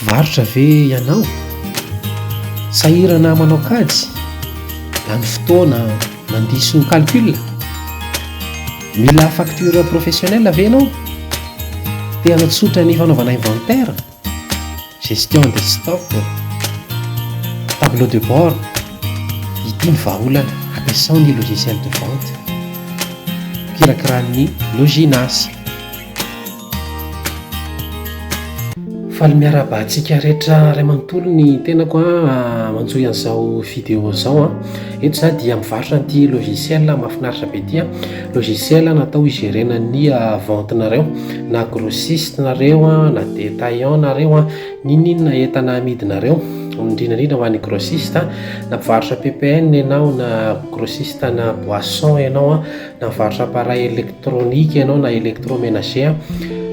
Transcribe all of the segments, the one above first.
Varotra ve ianao? Sahirana manao kajy? Lany fotoana mandiso calcul? Mila facture professionnelle ve ianao? Te hanatsotra ny fanaovana inventaire? Gestion des stocks? Tableau de bord? Ity ny vahaolana ampiasao ny logiciel de vente. Kirakiran'ny Loginas. Faly miarahaba antsika rehetra iray manontolo ny tenako an, manjohy an'izao vidéo izao an, eto za dia mivarotra an'ity logiciel mahafinaritra be ity an, logiciel natao higerena ny vente nareo, na grossiste nareo an, na detaillant nareo an, n'inon'inona entana amidinareo, indrindra indrindra ho an'ny grossiste an, na mpivarotra PPN ianao na grossiste ana boisson ianao an. Mivarotra appareil électronique ianao na électroménager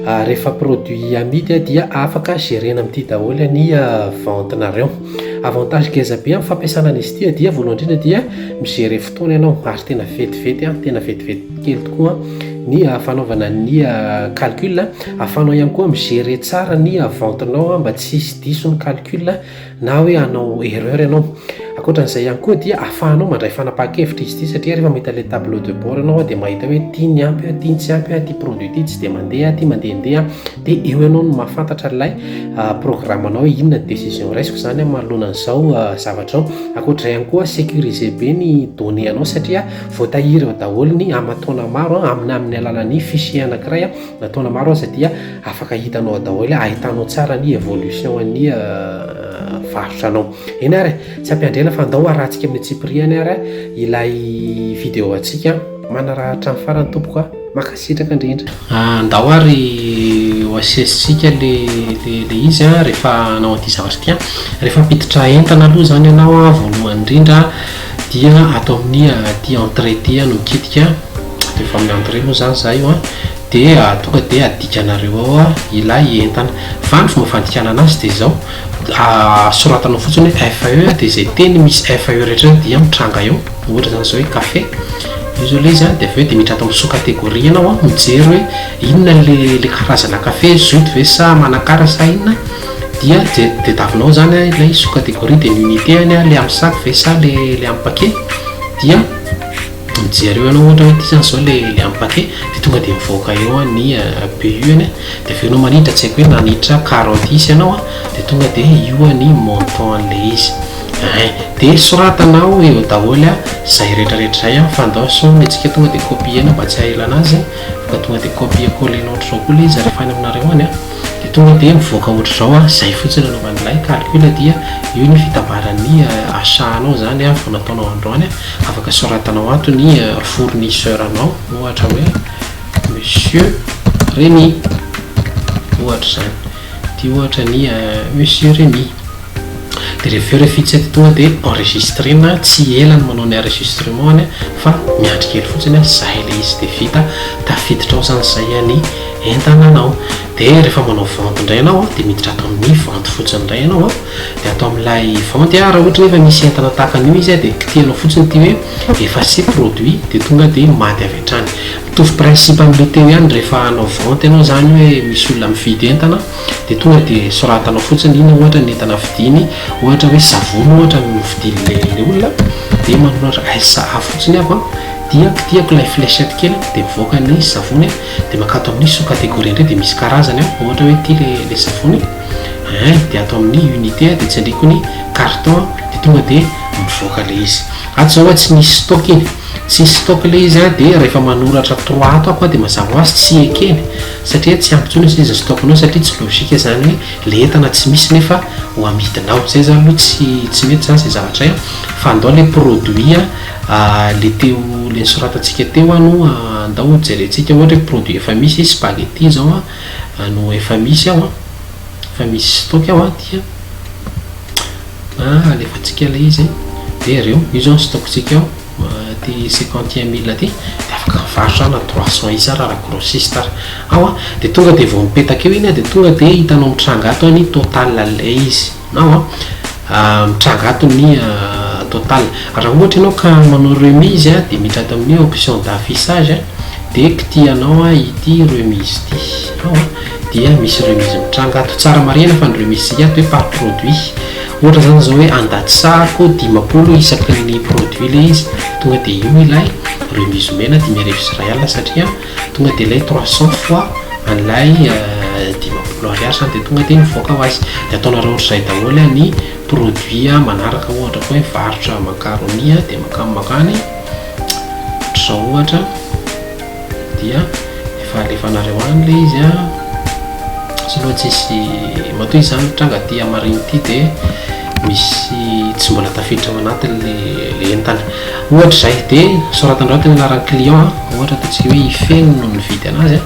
ah, rehefa produit amidy ah, dia afaka gerena amin'ity daholo ny ah, vente nareo. Avantage ngeza be amin'ny fampiasana an'izy ity dia voalohany indrindra dia migere fotoana ianao ary tena vetivety ah, tena vetivety kely tokoa ny fanaovana ny calcul. Ahafahanao ihany koa migere tsara ny vente nao mba tsy hisy diso ny calcul. na hoe hanao erreur ianao. Ankoatra an'izay ihany koa dia ahafahanao mandray fanapahan-kevitra izy ity satria rehefa mahita ilay tableau de bord ianao dia mahita hoe ity ny ampy, ity ny tsy ampy, ity produit ity tsy dia mandeha, ity mandehandeha, dia eo ianao no mahafantatra ilay ah, programanao hoe inona ny décision raisiko izany manoloana an'izao ah, zavatra ao. Ankoatra izay ihany koa sécurisé be ny données anao satria voatahiry ao daholo ny aman-taona maro amin'ny amin'ny alalan'ny fichier anankiray Na taona maro aza dia afaka hitanao daholo, ahitanao tsara ny evolution an'ny varotra anao. Eny ary, tsy ampiandrena fa ndao arantsika amin'ny tsipiriany ary ilay vidéo antsika. Manarahatra hatramin'ny farany tompoko a. Mankasitraka indrindra. Ah, ndao ary ho asesintsika le le le izy a rehefa hanao an'ity zavatra ity a. Rehefa hampiditra entana aloha zany ianao a, voalohany indrindra dia ato amin'ny aty entrée aty no mikitika. de efa amin'ny entrée moa zany za io an, de tonga de adikanareo ao an ilay entana, fa ny fomba fandikanana azy de izao, soratanao fotsiny hoe FAE de izay teny misy FAE rehetra dia mitranga eo, ohatra zany izao hoe café, io zao le izy an, de avy eo de miditra ato amin'ny sous catégorie ianao an, mijery hoe inona le le karazana café, zut ve sa manakara sa inona, dia je de tavinao ao zany an ilay sous catégorie de ny unité any an, le amin'ny sac ve sa le le amin'ny paquet, dia. Mijereo anao ohatra hoe ity zany zao le le am pate de tonga de mivoaka eo an ny BU ny de avy eo anao maniditra tsy haiko hoe nanitra carotte isa anao an de tonga de io an ny montant an le izy ein de soratanao eo daholy an zay retra retra zay an fa ndao sao ny antsika tonga de copiena mba tsy hahela anazy an fa ka tonga de copier coller na ohatra zao koa le izy refa any aminareo any an de tonga de mivoaka ohatra zao an zay fotsiny anaovan'ilay calcul dia io ny fitambaran'ny achat anao zany an vao nataonao androany an Afaka soratanao ato ny fournisseur anao ohatra hoe monsieur Remy ohatra izany ity ohatra ny monsieur Remy dia rehefa eo ilay fitsety tonga dia enregistrena tsy ela ny manao ny enregistrement any fa miandry kely fotsiny zay ilay izy dia vita tafiditra ao izany izay any entananao dia rehefa manao vente indray ianao dia miditra ato amin'ny vente fotsiny indray ianao Dia ato amin'ilay vente a, raha ohatra nefa misy entana tahaka an'io izy a, dia kitihanao fotsiny ity hoe effacer produit dia tonga dia maty avy hatrany. Mitovy principe amin'ilay teo ihany rehefa hanao vente ianao izany hoe misy olona mividy entana dia tonga dia soratanao fotsiny inona ohatra ny entana vidiany, ohatra hoe savony ohatra no novidian'ilay olona dia manoratra SA fotsiny aho a, dia kitihako ilay flechette kely a, dia mivoaka ny savony a, dia mankato amin'ny sous-catégorie indray dia misy karazany a, ohatra hoe ity ilay savony. hein dia ato amin'ny unité aho dia tsy andriko ny carton aho dia tonga dia mivoaka ilay izy ato zao tsy nisy stock iny tsy nisy stock ilay izy an dia rehefa manoratra trois ato aho dia mazava ho azy tsy ekeny satria tsy ampy intsony ilay izy stock nao satria tsy logique izany hoe ilay entana tsy misy nefa ho amidinao izay izany aloha tsy tsy mety izany izay zavatra izay an fa andao ilay produit an ilay teo ilay nosoratantsika teo an no andao hojerentsika ohatra hoe produit efa misy spaghetti izao an no efa misy ao an, efa misy stock ao an, dia alefantsika ilay izy dia ireo, io izao ny stock-tsika ao, ity cinquante et un mille ity dia afaka mivarotra na trois cents isa ary raha grossiste ary ao an, dia tonga dia vao mipetaka eo iny an, dia tonga dia hitanao mitranga ato an ny total an'ilay izy. Nao a, mitranga ato ny total. Raha ohatra ianao ka manao remise dia miditra ato amin'ny option d'affichage dia kitihanao ity remise ity. Ao a, dia misy remise mitranga ato. Tsara marihina fa ny remise tsika ato hoe par produit. Ohatra izany izao hoe andatisako dimampolo isaky ny produit ilay izy, tonga dia io ilay remise omena dimy arivo sy iray alina satria. Tonga dia ilay trois cents fois an'ilay dimampolo ariary izany dia tonga dia mivoaka ho azy. Dia ataonareo ohatr'izay daholo ny produit manaraka ohatra koa hoe varotra macaroni dia mankany mankany ohatr'izao ohatra dia efa alefanareo any ilay izy a. Tsy aloha tsisy matoa izy izany tranga aty hamarin'ity dia misy tsy mbola tafiditra ao anatiny ilay entana. Ohatra izay dia soratandrao tena anaran'ny client ohatra ataontsika hoe i Feno no nividy anazy a,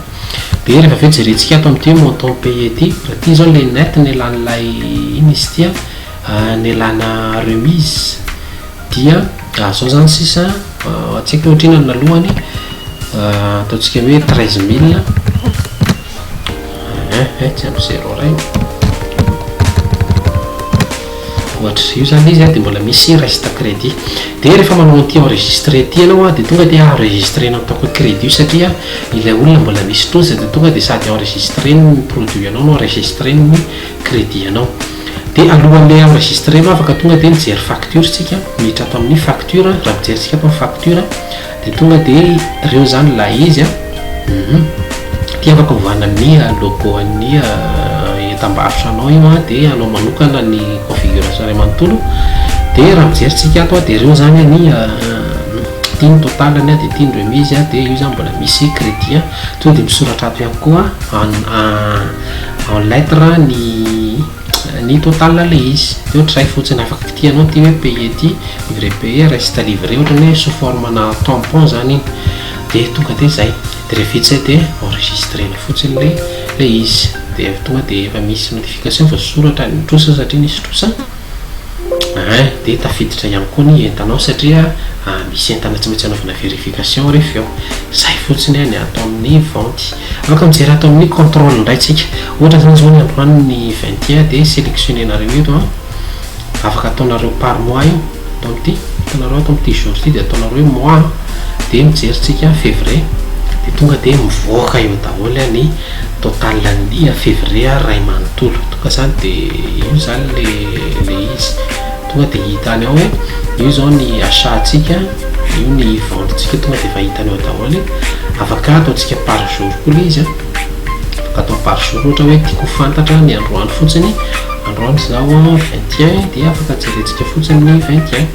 dia rehefa avy eo jerentsika ato amin'ity montant paye ity, raha ity izao ilay net nelan'ilay inona izy ity a, nelana remise dia izao izany sisa tsy haiko ohatr'inona ny nalohany ataontsika hoe treize mille. Eh eh tsy ampy zéro ray ohatr io zany izy dia mbola misy reste crédit dia rehefa manao an'ity enregistré ity ianao dia tonga dia enregistré-na ataoko hoe crédit satria ilay olona mbola misy fotoana izay dia tonga dia sady enregistré ny produit anao no enregistré ny crédit anao dia alohan'ilay enregistré anao afaka tonga dia mijery facture isika miditra ato amin'ny facture raha mijerintsika ato ny facture Dia tonga dia reo zany ilay izy an! Hum! Ity afaka ovana ny logo an'ny entam-barotranao io an! Dia anao manokana ny configuration iray manontolo, dia raha mijery tsika ato an! Dia reo zany an ny ity ny total ny an! Dia ity ny remise an! Dia io zany mbola misy crédit an! Tonga dia misoratra ato ihany koa an! En lettre ny Ny total ilay izy. Dia ohatr'izay fotsiny. Afaka kitihanao ity hoe payer ity, livrer payer, reste à livrer, ohatran'ny hoe sous forme na tampon izany iny. Dia tonga dia izay. Dia rehefa vita izay dia enregistrer-na fotsiny ilay ilay izy. Dia tonga dia efa misy notification fa soratra any mitrosa satria nisy trosa. Aa dia tafiditra ihany koa ny entanao satria misy entana tsy maintsy anaovana verification rehefa eo. Izay fotsiny ny atao amin'ny vente. Aoka mijery ato amin'ny control indray tsika. Ohatra zany zao ny androany ny vingt et un dia selectionner nareo eto an. Afaka ataonareo par mois io. Ato amty, hitanareo ato amty jour ty dia ataonareo hoe mois an. Dia mijery tsika fevrier. Dia tonga dia mivoaka eo daholo an ny total an'ny fevrier ray manontolo. Tonga zany dia io zany le le izy. Tonga dia hita any ao hoe io izao ny achat-ntsika, io ny vente-ntsika, tonga dia efa hitany ao daholo e. Afaka ataontsika par jour koa ilay izy an. Afaka atao par jour ohatra hoe tiako ho fantatra ny androany fotsiny, androany izao an, vingt et un, dia afaka jerentsika fotsiny ny vingt et un.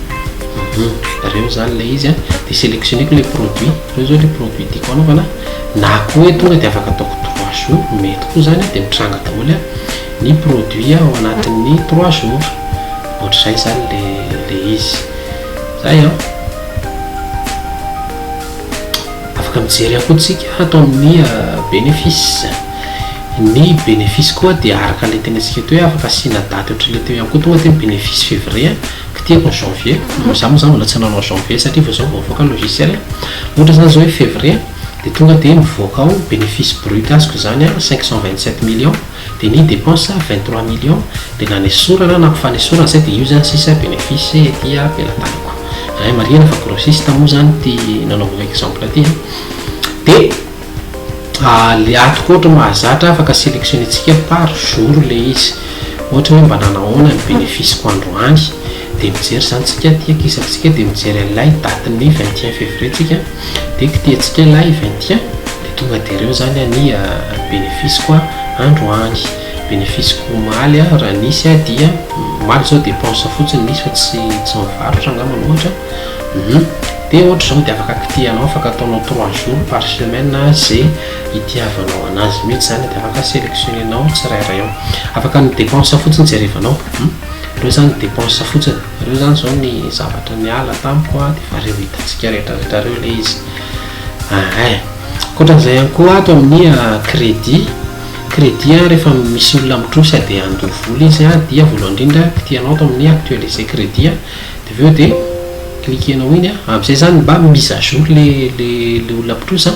Ireo izany ilay izy an. Dia sélectionner-ko ilay produit, ireo izao ilay produit tiako hanaovana. Na koa hoe tonga dia afaka ataoko trois jours, mety koa izany an, dia mitranga daholo an. ny produit ao anatin'ny trois jours ohatr'izay zany le le izy zay an afaka mijery akoa tsika hatao amin'ny bénéfice ny bénéfice koa dia araka le tena tsika teo hoe afaka asiana daty ohatry le teo ihany koa tonga teo bénéfice février ko tiako ny janvier no za mo zany mbola tsy nanao janvier satria vao zao vao avoaka logiciel ohatra zany zao hoe février dia tonga dia mivoaka ao bénéfice brut azoko zany an cinq cent vingt sept millions Dia ny dépense vingt trois millions dia nanesorana na ampifanesorana zay dia io zany sisa bénéfice ety am-pelatanako hein marihina fa grossiste moa zany ity nanaovako exemple ity hein dia le atoko ohatra mahazatra afaka sélectionner-tsika par jour le izy ohatra hoe mba nanahoana ny bénéfice-ko androany Dia mijery izany tsika aty aky isaky tsika dia mijery an'ilay date ny vingt et un février tsika dia kitihantsika ilay vingt et un dia tonga dia reo zany any bénéfice ko andro any bénéfice ko omaly a raha nisy a dia omaly zao dépense fotsiny nisy fa tsy tsy mivarotra angamba ohatra hum dia ohatra zao dia afaka kitihanao afaka ataonao trois jours par semaine ze itiavanao anazy mitsy zany dia afaka sélectionner nao tsirairay ao afaka ny dépense fotsiny jerevanao hum. Reo zany depense fotsiny, reo zany zao ny zavatra niala tamiko a, de efa reo hitantsika rehetra rehetra reo le izy ahh. Ankoatran'izay ihany koa ato amin'ny credit, credit a rehefa misy olona mitrosa dia handoa vola izy a dia voalohany indrindra kitihanao ato amin'ny actualiser credit a de avy eo de cliquer-nao iny a, am'zay zany mba mise à jour le le le olona mpitrosa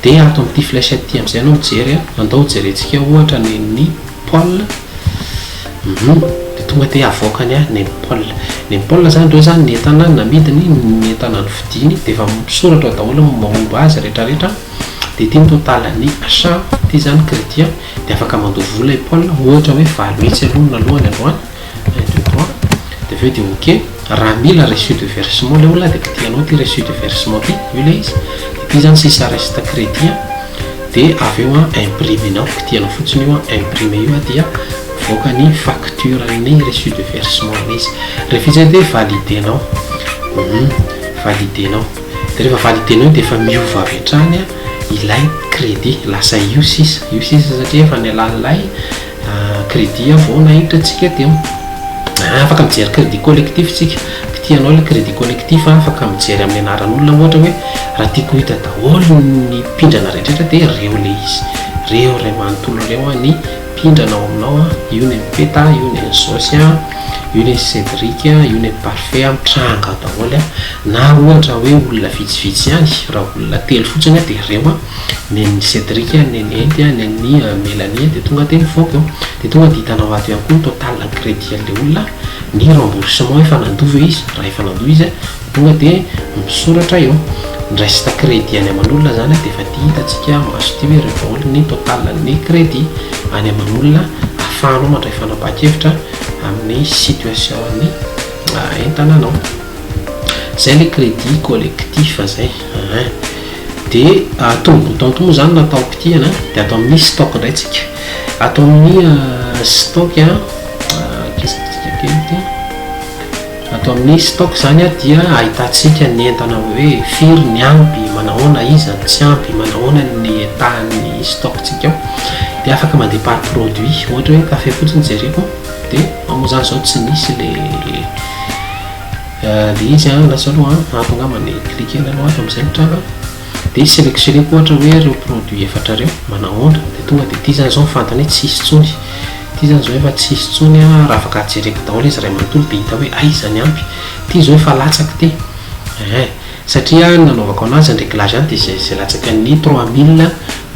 de ato am'ty flèche ty am'zay anao mijery a, andao hojerentsika ohatra ny ny. Paul, Humm, dia tonga dia havoaka ny ahy Neny Paul. Neny Paul, Zany ireo izany ny entana namidiny, ny entana novidiany, dia efa misoratra ao daholo ny momba azy rehetra rehetra, dia ity ny totalin'ny achat ity izany crédit dia afaka mandoa vola i Paul, ohatra hoe valo hetsy aloha naloany androany, Plein de droit, dia avy eo dia ok, raha mila reçu de versement ilay olona dia kitiha anao ity reçu de versement ity, io ilay izy, ity izany sisa reste crédit an, dia avy eo an imprimer nao, kitihanao fotsiny io an, imprimer io an dia mivoaka ny facture an'ny reçu de versement ilay izy, rehefa izay dia valider nao, hum, valider nao, dia rehefa valider nao io dia efa miova avy hatrany an ilay crédit, lasa io sisa, io sisa satria efa nialàn'ilay. Crédit vao nahiditra tsika dia afaka mijery crédit collectif tsika, kitia anao ilay crédit collectif a, afaka mijery amin'ny anaran'olona ohatra hoe raha tiako hita daholo ny mpindrana rehetra dia reo ilay izy, reo iray manontolo reo ny mpindrana ao aminao a, io ny an'i Peta, io ny an'i Zosy a, io ny an'i Cédric, io ny an'i Parfait a, mitranga ao daholo a, na ohatra hoe olona vitsivitsy ihany, raha olona telo fotsiny dia reo a. nen'i Cédric a, nen'i Henty a, nen'i Mélanie a, dia tonga dia nivoaka eo, dia tonga dia hitanao ato ihany koa ny total crédit an'ilay olona, ny remboursement efa nandoa ve izy, raha efa nandoa izy a, dia tonga dia misoratra eo, ny reste crédit any aman'olona izany a, dia efa ity hitantsika maso ity hoe ireto daholo ny total an'ny crédit any aman'olona, ahafahanao mandray fanapahan-kevitra amin'ny situation an'ny entananao. Izay ilay crédit collectif izay, ah. Dia atao amin'ny bouton moa izany na tao kitihana dia ato amin'ny stock indray tsika. Ato amin'ny stock a, kisitrika kely ity. Ato amin'ny stock izany dia ahitantsika ny entana hoe firy ny ampy, manahoana, iza no tsy ampy, manahoana ny état-n'ny stock-tsika ao. Dia afaka mandeha par produit, ohatra hoe kafe fotsiny jereko dia moa izany izao tsy nisy ilay. Dia izy an, lasa aloha an, ato angamba ny cliquer-ny aloha ato amin'izay ny tranga, dia selectionner-ko ohatra hoe ireo produits efatra ireo, manahoana, dia tonga dia ity izany izao ny fantany hoe tsy hisy intsony, ity izany izao efa tsy hisy intsony an, raha afaka jereko daholo izy iray manontolo dia hita hoe aiza ny ampy, ity izao efa latsaka ity, ehe. Satria ny nanaovako anazy an reglage an dia izay izay latsaky ny trois mille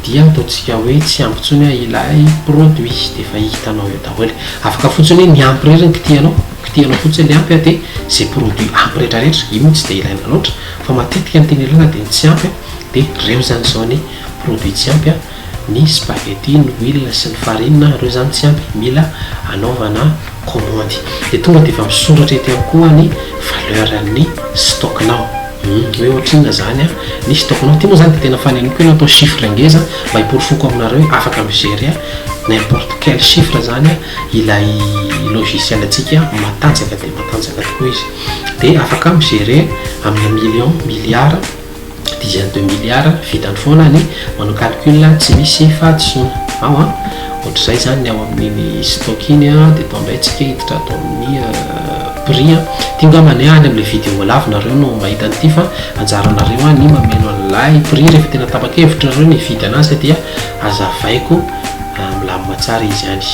dia ataontsika hoe tsy ampy intsony ilay produit dia efa hitanao eo daholo e! Afaka fotsiny hoe ny ampy irery no kitihanao, kitihanao fotsiny ilay ampy an dia izay produit ampy retraretra, io moa tsy dia ilaina loatra fa matetika ny tena ilana dia ny tsy ampy an dia ireo izany izao ny produit tsy ampy an. Ny spaghetti, ny huile sy ny farine a, reo zany tsy ampy, mila anaovana kômandy. De tonga de efa misoratra eto ihany koa ny valeur ny stock nao. Hum, hoe ohatrinona zany a, ny stock nao. Ty moa zany de tena faneniko io natao chiffre ngeza mba hiporofoko aminareo hoe afaka mi-gerer a n'importe quel chiffre zany a ilay logiciel antsika matanjaka dia matanjaka tokoa izy. De afaka mi-gerer amina million, milliard. Dizaines de milliards vitany foana ny manao calcul tsy misy fahadisoana ao an! Ohatr'izay izany ny ao amin'iny stock iny an! Dia tao indray tsika hiditra ato amin'ny prix an! Ity ngambany any amin'ilay vidéo lava nareo no mahita an'ity fa anjaranareo an ny mameno an'ilay prix rehefa tena tapa-kevitra nareo ny hividy anazy dia azavaiko milamina tsara izy any!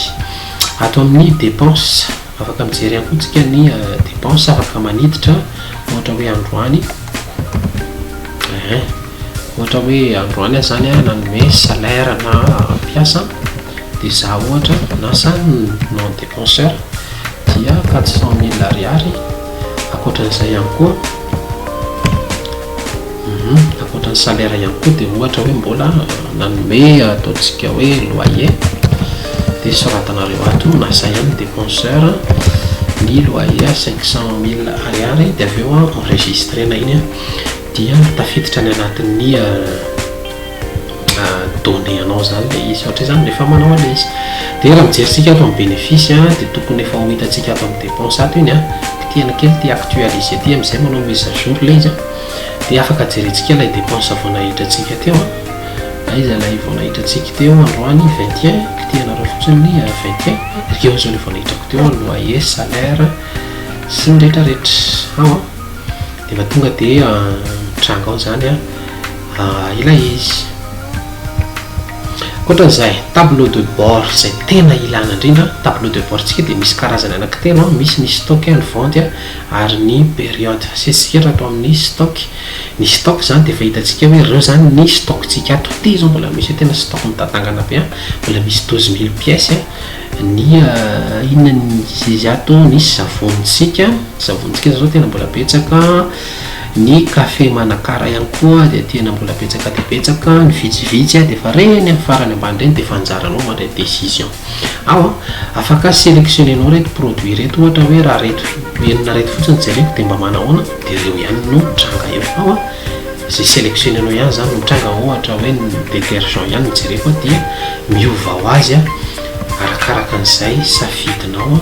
Ato amin'ny dépenses. Afaka mijery ihany koa tsika ny depense afaka maniditra ohatra hoe androany ohatra hoe androany aza zany a nanome salaire na mpiasa dia za ohatra na samy non depenseur dia quatre cent mille ariary akoatran'izay ihany koa Humm ankoatra ny salaire ihany koa dia ohatra hoe mbola nanome ataontsika hoe loyer dia soratanareo ato na izay any depenseur ny loyer à cinq cent mille ariary dia avy eo enregistrena iny dia tafiditra any anatin'ny données anao zany le izy satria zany rehefa manao an'le izy dia raha mijery tsika ato amin'ny bénéfice a dia tokony efa ho hitantsika ato amin'ny dépense ato iny a kitihana kely ity actualiser ity amin'izay manao mise à jour le izy a dia afaka jerentsika ilay dépense vao nahitra antsika teo a aiza ilay vao nahitra antsika teo androany 21 kitihanareo fotsiny ny 21 ireo izao le vao nahitrako teo a loyer salaire sy ny rehetrarehetra ao a dia efa tonga dia mitranga ao zany a ilay izy. Ankoatran'izay, tableau de bord izay tena ilana indrindra, tableau de bord tsika dia misy karazany anankitelo, misy ny stock, ny vente ary ny période. Asiantsika eto ato amin'ny stock. Ny stock izany dia efa hitantsika hoe ireo izany ny stock tsika ato. Ity izao mbola misy hoe tena stock mitatangana be, mbola misy douze mille pièces ny inona izy ato, ny savony tsika, savony tsika izao tena mbola betsaka. Ny Café Manakara ihany koa dia tena mbola betsaka dia betsaka ny vitsivitsy dia efa reny amin'ny farany ambany reny dia efa anjaranao mandray décision ao an! afaka sélectionner-nao ireto produits ireto ohatra hoe raha ireto enina ireto fotsiny no jereko dia mba manahoana dia ireo ihany no mitranga eo ao an! izay sélectionner-nao ihany izany no mitranga ohatra hoe ny détergent ihany no jereko dia miova ho azy arakaraka an'izay safidinao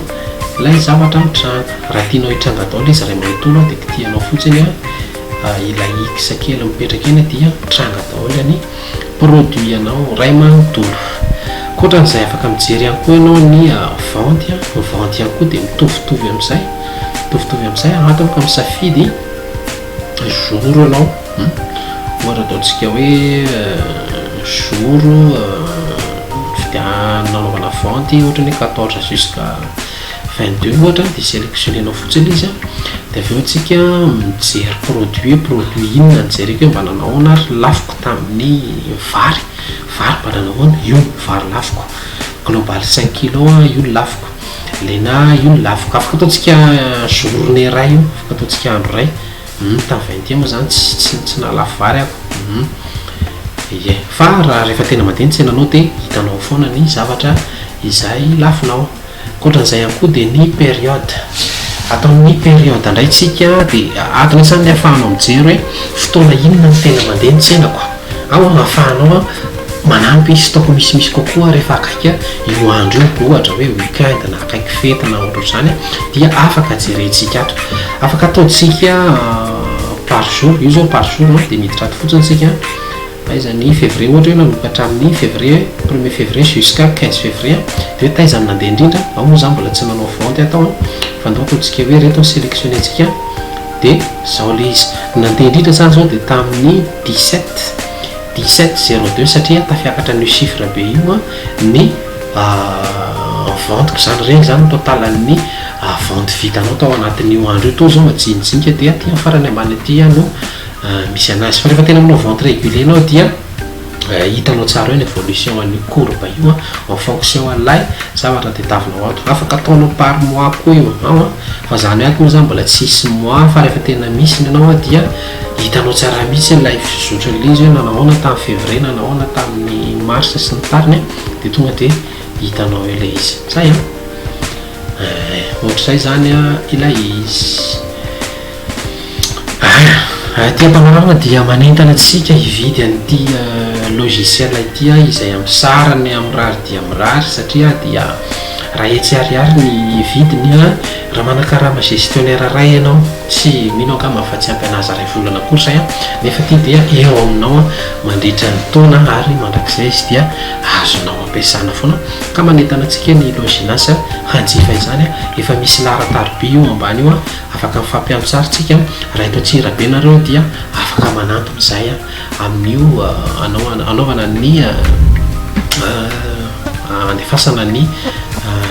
Ilay zavatra mitranga. Raha tianao hitranga daoly izy iray manontolo dia kitihanao fotsiny ilay X kely mipetraka eny dia mitranga daoly ny produit anao iray manontolo. Ankoatran'izay afaka mijery ihany koa ianao ny vente, ny vente ihany koa dia mitovitovy amin'izay, mitovitovy amin'izay, ato aho ka misafidy. zoro ianao ohatra ataontsika hoe zoro nanaovana vente ohatra ny hoe quatorze jusqu'à vingt deux ohatra dia sélectionner nao fotsiny ilay izy an dia avy eo tsika mijery produit hoe produit inona no jereko hoe mba nanao ahoana ary lafoko tamin'ny vary vary mba nanao ahoana io ny vary lafoko global cinq kilos io ny lafoko Lena io ny lafo ka afaka ataontsika journée iray io afaka ataontsika andro iray hum tamin'ny vingt et un moa zany tsy tsy tsy nahalafo vary aho hum ie fa raha rehefa tena mandeha ny tsenanao dia hitanao foana ny zavatra izay lafonao ankoatran'izay ihany koa dia ny période ataon'ny période indray tsika dia adiny zany ny afahanao mijery hoe fotoana inona no tena mandeha ny tsenako Aho no afahanao an, manampy stock misimisy kokoa rehefa akaiky io andro io, ohatra hoe week-end na akaiky fety na ohatrohatr'izany dia afaka jerentsika ato. Afaka ataontsika par jour, io zao par jour dia miditra ato fotsiny isika, taiza ny février ohatra hoe nanomboka hatramin'ny février, premier février jusqu'à quinze février, dia hoe taiza ny nandeha indrindra, ao moa za mbola tsy nanao vente ato an, fandoako ny tsike hoe ireto ny selectionner-tsika. Dia izao ilay izy, nandeha indrindra za izao dia tamin'ny dix sept, dix sept zero deux satria tafiakatra an'io chiffre be io ny vente-ko izany, ireny izany ny total-n'ny vente vitanao tao anatin'io andro io, toa izao majinijinika dia aty amin'ny farany ambany aty no misy an'azy, fa rehefa tena manao vente reguler ianao dia. Hitanao tsara eo ny evolution an'io courbe io en fonction an'ilay zavatra tadiavinao ato. Afaka ataonao par mois koa io ao an, fa zany ato moa zany mbola tsy hisy mois fa rehefa tena misy ny anao dia hitanao tsara mihitsy ilay fizotran'ilay izy hoe nanao ahoana tamin'ny février, nanao ahoana tamin'ny mars sy ny tariny dia tonga dia hitanao eo ilay izy. Zay an! Eh, ohatr'izay izany ilay izy. Aia, aty Ampanorama dia manentana antsika hividy an'ity logiciel ity izay hampisarany amin'ny mirary dia mirary satria dia raha hetsy ariary ny vidiny an, raha manakarama gestionnaire iray ianao, tsy mino angamba afa-tsy hampianaza iray volana akory izay an, nefa ity dia eo aminao mandritra ny taona ary mandrakizay izy dia azonao. Ampiasana foana ka manentana antsika ny Loginas hanjifa izany, efa misy laharan-tariby io ambany io, afaka mifampiano sary tsika raha eto Antsirabe nareo dia afaka manantona izay amin'io anaovana ny handefasana ny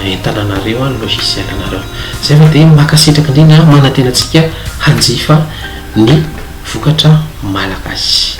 entana nareo, ny logiciel nareo. Izay fa dia mankasitraka indrindra manantena antsika hanjifa ny vokatra malagasy.